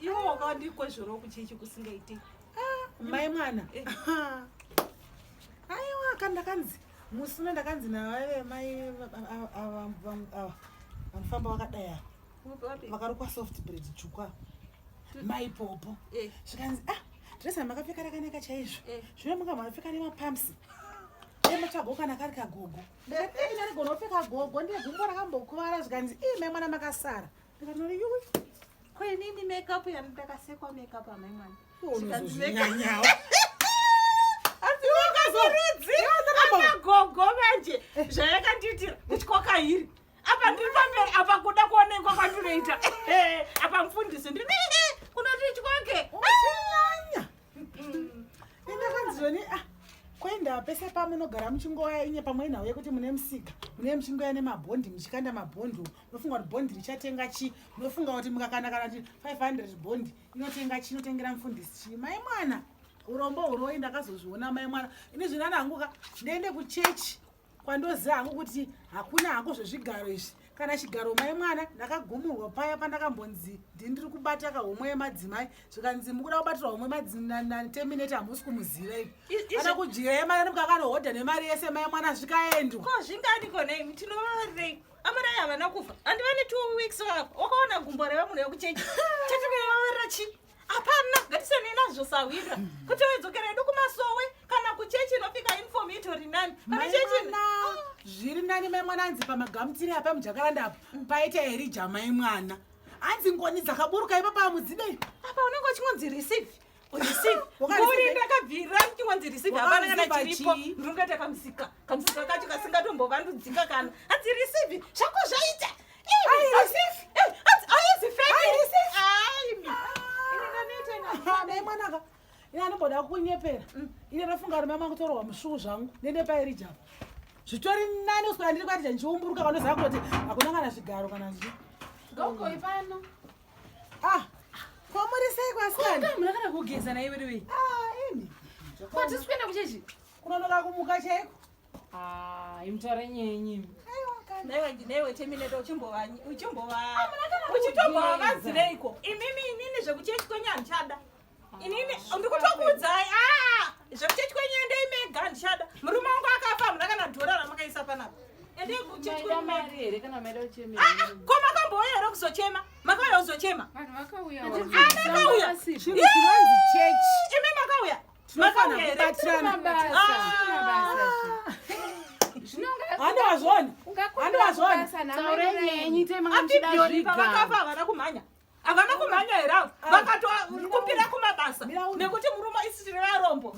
Iwo wakandikwezvora kuchechi kusingaite. Ah, mai mwana. Eh. Aiwa kandakanzi musina ndakanzi na vave mai ava ava vanofamba vakadai ava. Vakarukwa soft bread chukwa. Mai popo. Eh. Zvikanzi ah dresa makapfeka rakanaka chaizvo. Eh. Zvino manga makapfeka nemapumps. ematsvago kana kari kagogo ndaiina rigona kupfeka gogo ndiye gumbo rakambokuvara zvikanzi ii mai mwana makasara Kwenini makeup yanitakasekwa makeup amai mwana. Unozozvinyanyawo. gogo manje zvayakandiitira ndityaka iri apa ndiri pamberi apa kuda kuonekwa kwandinoita apa mfundisi ndiri kunoti tyake chinyanya endakanzizoni ah kuenda pese pamunogara muchingoya inye pamwe nhau yekuti mune musika mune muchingoya nemabhondi muchikanda mabhondi unofunga kuti bond richatenga chii unofunga kuti mukakana kana kuti 500 bond inotenga chii inotengera mufundisi chii mai mwana urombo uroi ndakazozviona mai mwana ini zvinana hangu ka ndiende kuchechi kwandoziva hangu kuti hakuna hako zvezvigaro izvi kana chigaro mai mwana ndakagumurwa paya pandakambonzi ndi ndiri kubata ka homwe yemadzimai zvikanzi mukuda kubatirwa homwe mateminate hamusi kumuziva ivi ana kudyira yemari nemukakanohodha nemari yese mai mwana zvikaendwa ko zvinganiko nei tinovarei Amarai havana kufa andi vane two weeks vakafa wakaona gumbo reva munhu vekuchechi chatikuvavarira chi hapana ngatisene nazvo sahwira kuti wedzokera yedu kumasowe kana kuchechi inopika inform itori nani kana chechi zviri nani mai mwana anzi pamagamutiri apa mujakaranda apo paita here jamai mwana hanzi ngoni dzakaburuka ipapa amudzidei apa unenge uchingonzi receive uri ndakabvira kuti wanzi receive hapana kana chiripo ndinongaita kamusika kamusika kacho kasingatombovandudzika kana hanzi receive zvako zvaita mwanaka ini anomboda kunyepera mm. ini ndafunga rume mangu torwa musvuu zvangu nende pairijapa zvitori nani uswera ndiri kuatija ndichiumburuka vanoziva kuti hakuna kana zvigaro kana zvi Ah, kwamuri sei kwasikana? Kama munakana kugeza na iwe iwe. Ah, ini. Kwa tisi kuenda kuchechi? Kunonoka kumuka chaiko. Ah, imtore nyenyi. Aiwa kana. Newe ndinewe chemine to chimbova uchimbova. Ah, munakana uchitomba vakazireiko? Imimi inini zvekuchechi kwenye anchada. inini ndikutokuudzai ah! zvekuchechi kwenyu endei mega ndichada murume wangu akafa hamuna kana dhora ramakaisa panapa ko makambouya here kuzochema makauya kuzochema imi makauya makauyaandiwazvoni andiwazvoni apipyori pavakafa havana kumhanya havana kumhanya here avo ah. vakatokupira kumabasa nekuti murume isitiri varombo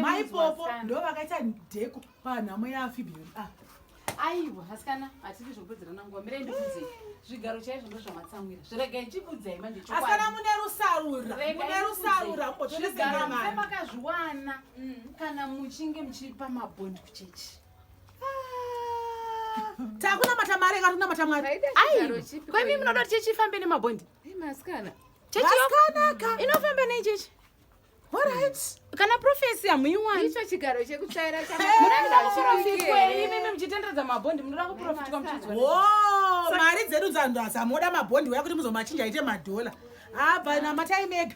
maipopo ndo vakaita dheko panhamo yaafibheri ah. aiwa asikana hatidi zvokupedzerana nguva mirai ndikuudzei zvigaro chaizvo ndo zvamatsamwira zviregai chikuudzai manje asikana mune rusarura mune rusarura mbotiimakazviwana mm. kana muchinge muchipa mabhondi kuchechi takunamata mari eka tikunamata mwari kwemi munoda kuti chechi ifambe nemabhondi chechikanaka inofamba nei chechi kana profesi hamuiwaniicho chigaro chekutsvaira chamunakuprofitweimimi muchitenderedza mabhondi munoda kuprofitwa muchidzwa mari dzedu dzanhu hamoda mabhondi uya kuti muzomachinja aite madhola abva namataimega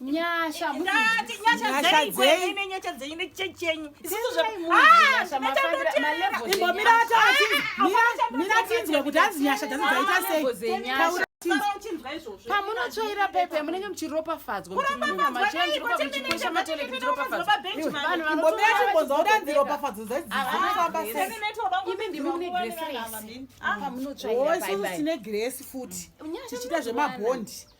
nyasha dzaiimbomiratinzwe kuti hanzi nyasha dzanzi dzaita sei pamunotsvaira pepe munenge muchiropafadzwapamunotsvairapamunotsvairapamunotsvaira tine gresi futi tichiita zvemabhondi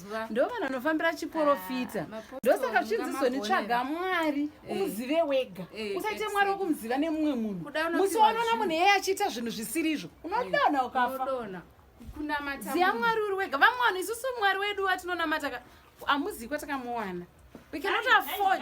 mazuva ndo vanhu vanofambira chiporofita ah, ndosaka zvichizizonitsvaga mwari eh. umuzive wega eh, usaite mwari wokumuziva nemumwe munhu musi wanoona munhu eye achiita zvinhu zvisiri izvo unodona eh, ukafa ziya mwari uri wega vamwe vanhu isusu mwari wedu watinonamata amuzivi kwatakamuwana we cannot afford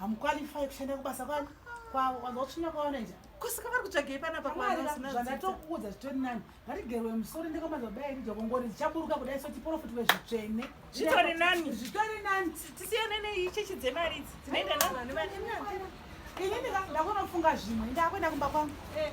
hamuqualify kushanda kubasa kwani kwavo kwanza utsvinya kwaona nja kusika vari kutsvagei panapa kwanzvandatokuudza zvitori nani ngatigerwe musoro ndekamaza kudai rija kongori dzichaburuka kudai so tiprofiti wezvitsvene zvitori nani zvitori nani tisiyane neichechi dzemari idzi dzinoenda nani ini ndakunofunga zvimwe ndakuenda kumba kwangu eh.